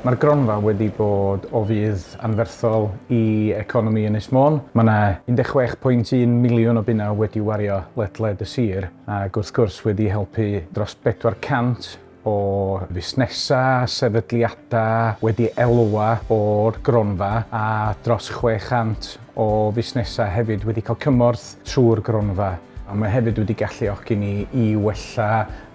Mae'r gronfa wedi bod o fudd anferthol i economi Ynys Môn. Mae yna 16.1 miliwn o bunnau wedi wario ledled y sir ac wrth gwrs wedi helpu dros 400 o fusnesau, sefydliadau wedi elwa o'r gronfa a dros 600 o fusnesau hefyd wedi cael cymorth trwy'r gronfa, a mae hefyd wedi galluogi ni i wella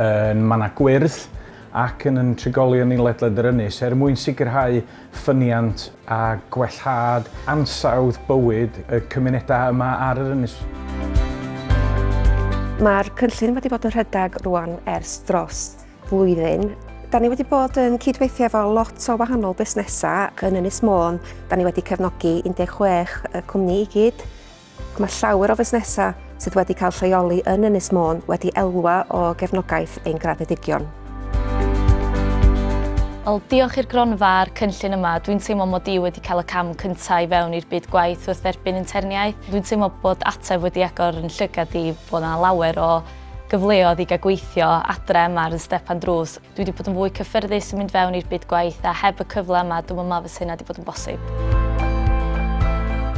yn mannau gwyrdd ac yn yn trigolion ni ledled yr ynys er mwyn sicrhau ffyniant a gwellhad ansawdd bywyd y cymunedau yma ar yr ynys. Mae'r cynllun wedi bod yn rhedeg rwan ers dros flwyddyn. Da ni wedi bod yn cydweithio efo lot o wahanol busnesau yn Ynys Môn. Da ni wedi cefnogi 16 y cwmni i gyd. Mae llawer o fusnesau sydd wedi cael lleoli yn Ynys Môn wedi elwa o gefnogaeth ein graddedigion. Wel, diolch i'r gronfa a'r cynllun yma, dwi'n teimlo mod i wedi cael y cam cyntaf i fewn i'r byd gwaith wrth dderbyn interniaeth. Dwi'n teimlo bod ateb wedi agor yn llygad i, bod yna lawer o gyfleodd i gael gweithio adre yma ar 'y stepan drws. Dwi wedi bod yn fwy cyffyrddus yn mynd fewn i'r byd gwaith a heb y cyfle yma dwi'm yn meddwl fysa hynna wedi bod yn bosib.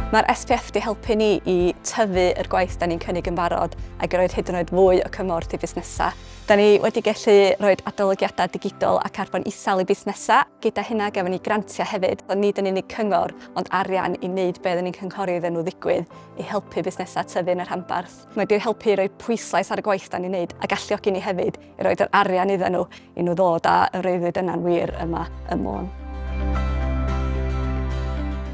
Mae'r SPF wedi helpu ni i tyfu yr gwaith da ni'n cynnig yn barod ac i roed hyd yn oed fwy o cymorth i fusnesau. Da ni wedi gallu rhoi adolygiadau digidol a carbon isel i busnesau. Gyda hynna gafon ni grantiau hefyd, ond nid yn unig cyngor ond arian i wneud be oedden ni'n cynghori iddyn nhw ddigwydd i helpu busnesau tyfu yn y rhanbarth. Mae wedi helpu i roi pwyslais ar y gwaith da ni'n neud a galluogi ni hefyd i roed yr arian iddyn nhw i nhw ddod a y freuddwyd yna'n wir yma ym Môn.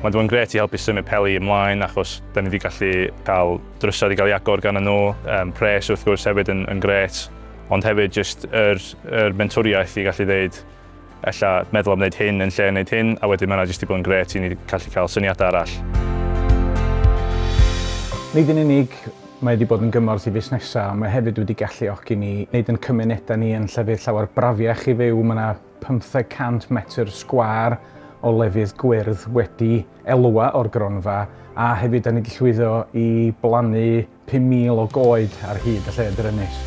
Mae 'di bod yn grêt i helpu symud Peli ymlaen achos 'da ni 'di gallu cael drysau 'di cael ei agor ganddyn nhw, yym pres wrth gwrs hefyd yn yn grêt ond hefyd jyst yr yr mentwriaeth i gallu ddeud Ella meddwl am wneud hyn yn lle wneud hyn, a wedyn mae yna jyst 'di bod yn grêt i ni gallu cael syniadau arall. Nid yn unig mae wedi bod yn gymorth i fusnesau, ond mae hefyd wedi galluogi ni wneud yn cymunedau ni yn llefydd llawer brafiach i fyw. Mae yna 500 metr sgwâr o lefydd gwyrdd wedi elwa o'r gronfa, a hefyd da ni wedi llwyddo i blannu 5,000 o goed ar hyd y lle drymus.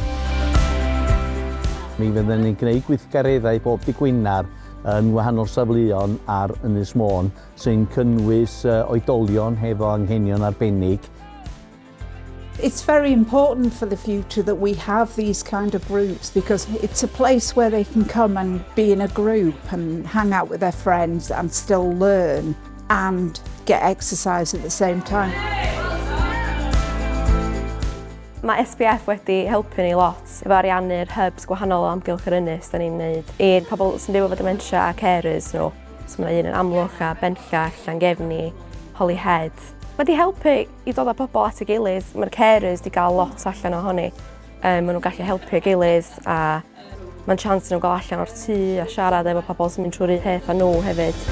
Mi fydden ni'n gwneud gweithgareddau bob dydd Gwener yn wahanol safleon ar Ynys Môn, sy'n cynnwys oedolion hefo anghenion arbennig, It's very important for the future that we have these kind of groups because it's a place where they can come and be in a group and hang out with their friends and still learn. and get exercise at the same time. Mae SPF wedi helpu ni lot efo ariannu'r hubs gwahanol o amgylch yr ynys da ni'n wneud i'r pobl sy'n byw efo dementia a carers nhw. So mae un yn amlwch a benllach, Llangefni, Holyhead. Mae wedi helpu i dod â pobl at y gilydd, mae'r carers wedi cael lot allan ohoni. Um, maen nhw'n gallu helpu gilydd a Mae'n chance nhw gael allan o'r tŷ a siarad efo pobl sy'n mynd trwy'r un peth â nhw hefyd.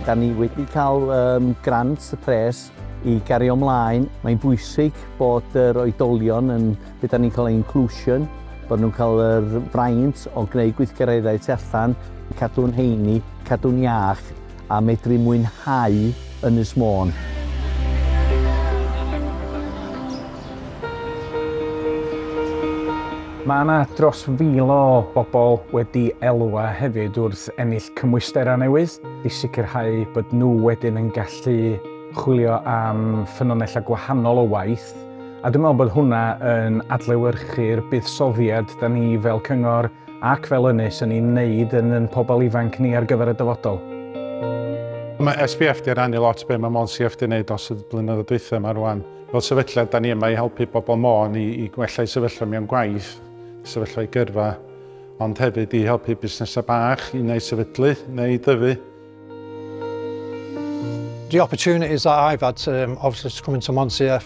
Da ni wedi cael um, grant y pres i gario ymlaen. Mae'n bwysig bod yr oedolion yn beth da ni'n cael inclusion, bod nhw'n cael yr fraint o gwneud gweithgareddau tu allan, cadw'n heini, cadw'n iach, a medru mwynhau Ynys Môn. Mae yna dros fil o bobl wedi elwa hefyd wrth ennill cymwysterau newydd i sicrhau bod nhw wedyn yn gallu chwilio am ffynonellau gwahanol o waith, a dwi'n meddwl bod hwnna yn adlewyrchu'r buddsoddiad 'da ni fel cyngor ac fel ynys yn ein wneud yn yn pobl ifanc ni ar gyfer y dyfodol. Mae SBF 'di rannu lot be mae Môn CF 'di wneud dros y blynyddoedd dwytha ma rwan. Fel sefydliad 'da ni yma i helpu bobl Môn i i gwella eu sefyllfa mewn gwaith, sefyllfa eu gyrfa, ond hefyd i helpu busnesau bach i neu sefydlu neu i dyfu. The opportunities that I've had to um, obviously to come into Môn CF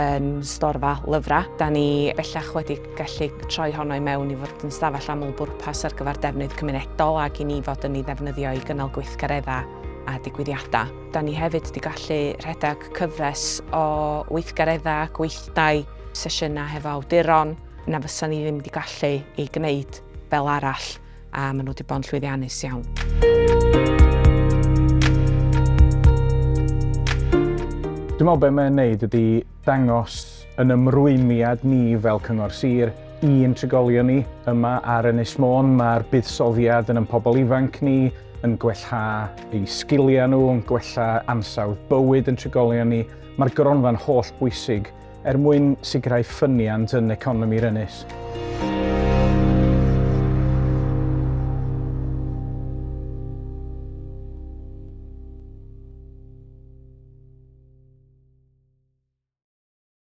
yn storfa lyfrau. Da ni bellach wedi gallu troi honno i mewn i fod yn stafell aml bwrpas ar gyfer defnydd cymunedol ac i ni fod yn ei ddefnyddio i gynnal gweithgareddau a digwyddiadau. Da ni hefyd wedi gallu rhedeg cyfres o weithgareddau, gweithdai, sesiynau hefo awduron na fysa ni ddim wedi gallu ei gwneud fel arall. a maen nhw wedi bod yn llwyddiannus iawn. Dwi'n meddwl beth mae'n neud ydy dangos yn ymrwymiad ni fel Cyngor Sir i'n trigolion ni yma ar Ynys Môn. Mae'r buddsoddiad yn yn pobl ifanc ni, yn gwella eu sgiliau nhw, yn gwella ansawdd bywyd yn trigolion ni. Mae'r gronfa'n holl bwysig er mwyn sicrhau ffyniant yn economi'r ynys.